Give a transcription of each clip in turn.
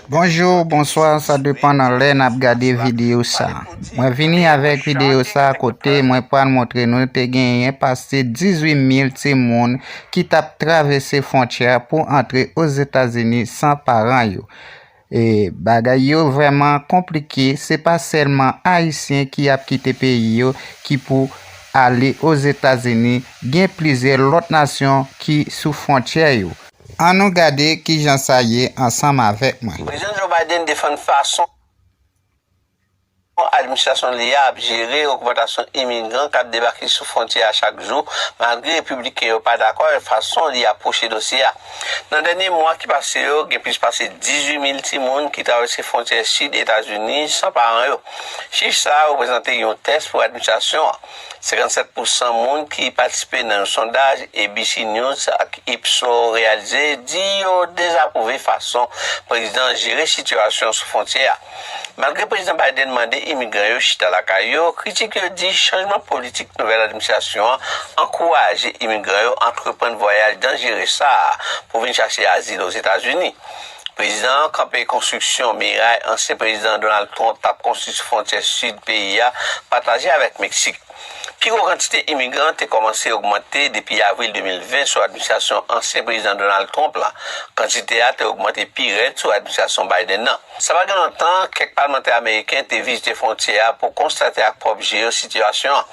Bonjour bonsoir sa depan nan lè nap gade video sa mwen vini avèk video sa kote mwen pral montre nou te genyen pase 18 mil timoun ki tap travèse fontyè pou antre ozetazini san paran yo e bagay yo vrèman konplike se pa sèlman ayisyen ki ap kite peyi yo ki pou ale ozetazini gen plizyè lòt nasyon ki sou fontyè yo. Annou gade ki jan sa ye ansanm avèk mwen. Prezidan Joe Biden defann fason administrasyon li a ap jere ogmantasyon imigran k ap debake sou fwontyè a chak jou, malgre Repibliken yo pa dakò avèk fason li apwoche dosye a. Nan dènye mwa ki pase yo, gen plis pase 18 mil timoun ki travèse fwontyè sid Etazini san paran yo. Chif sa a reprezante yon tès pou administrasyon an. 57 pousan moun ki patisipe nan yon sondaj ABC News ak Ipsos reyalize di yo dezapwouve fason prezidan an jere sitiyasyon sou fwontyè a. Malgre Prezidan Biden mande imigran yo chita lakay yo, kritik yo di chanjman politik nouvèl administrasyon an ankouraje imigran yo antreprann vwayaj danjere sa a pou vin chache azil Ozetazini. Prezidan an kanpe konstriksyon miray ansyen Prezidan Donald Trump t ap konstwi sou fwontyè sid peyi a pataje avèk Meksik. Pi gwo kantite imigran te kòmanse ogmante depi avril 2020 sou administrasyon ansyen Prezidan Donald Trump la, kantite a te ogmante pi rèd sou administrasyon Biden nan. Sa pa gen lontan, kèk palmantè ameriken te vizite fwontyè a pou konstate ak pwòp je yo sitiyasyon an.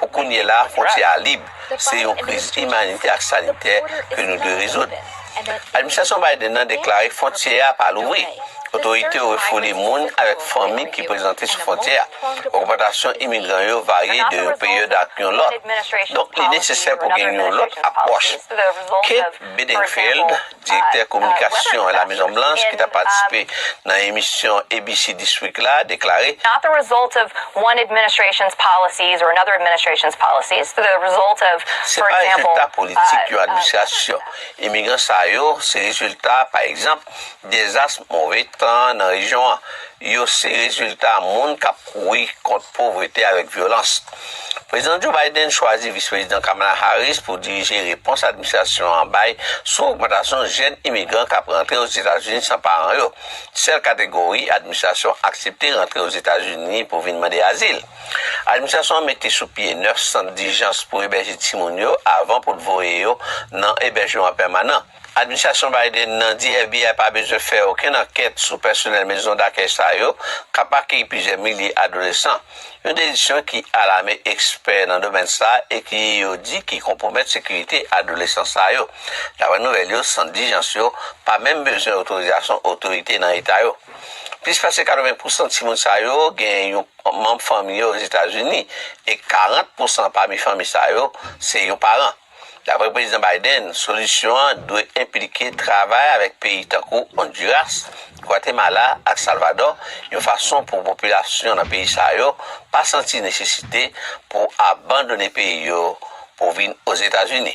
Pou kounye la, fwontyè a lib. Se yon kriz imanitè ak sanitè ke nou dwe rezoud. Administrasyon Biden nan deklare fwontyè a pa louvri. Otorite yo refoule moun avèk fanmi ki prezante sou fwontyè a. Ogmantasyon imigran yo varye de yon peryòd ak yon lòt. Donk li nesesè pou gen yon lòt apwòch. Kate Bedingfield. Direktè kominikasyon La Mezon Blanch ki ta patisipe nan emisyon ABC This Week la deklare. Se pa rezilta politik yon administrasyon. Imigran sa yo se rezilta, pa egzanp, dezas move tan nan rejyon an. Yo se rezilta moun k ap kouri kont povrete avèk vyolans. Prezidan Joe Biden chwazi Vis Prezidan Kamala Harris pou dirije repons administrasyon an bay sou ogmantasyon jèn imigran k ap rantre Ozetazini san paran yo, sèl kategori administrasyon aksepte rantre Ozetazini pou vin mande azil. Administrasyon an mete sou pye 9 sant dijans pou ebèje timoun yo avan pou l voye yo nan ebèjman pèmanan. Administrasyon Biden nan di FBI pa bezwen fè okenn ankèt sou pèsonèl mezon dakèy sa yo k ap akeyi plizyè milye adolesan, yon dezisyon ki alame ekspè nan domèn sa e ki yo di ki konpwomèt sekirite adolesan sa yo. Daprè nouvèl yo, sant dijans yo pa menm bezwen otorizasyon otorite nan eta yo. Plis pase 80 pousan timoun sa yo gen yon manm fanmi yo Ozetazini e 40 pousan pami fanmi sa yo se yon paran. Daprè Prezidan Biden, solisyon an dwe enplike travay avèk peyi tankou Ondiras, Gwatemala ak Salvadò yon fason pou popilasyon nan peyi sa yo pa santi nesesite pou abandone peyi yo pou vin Ozetazini.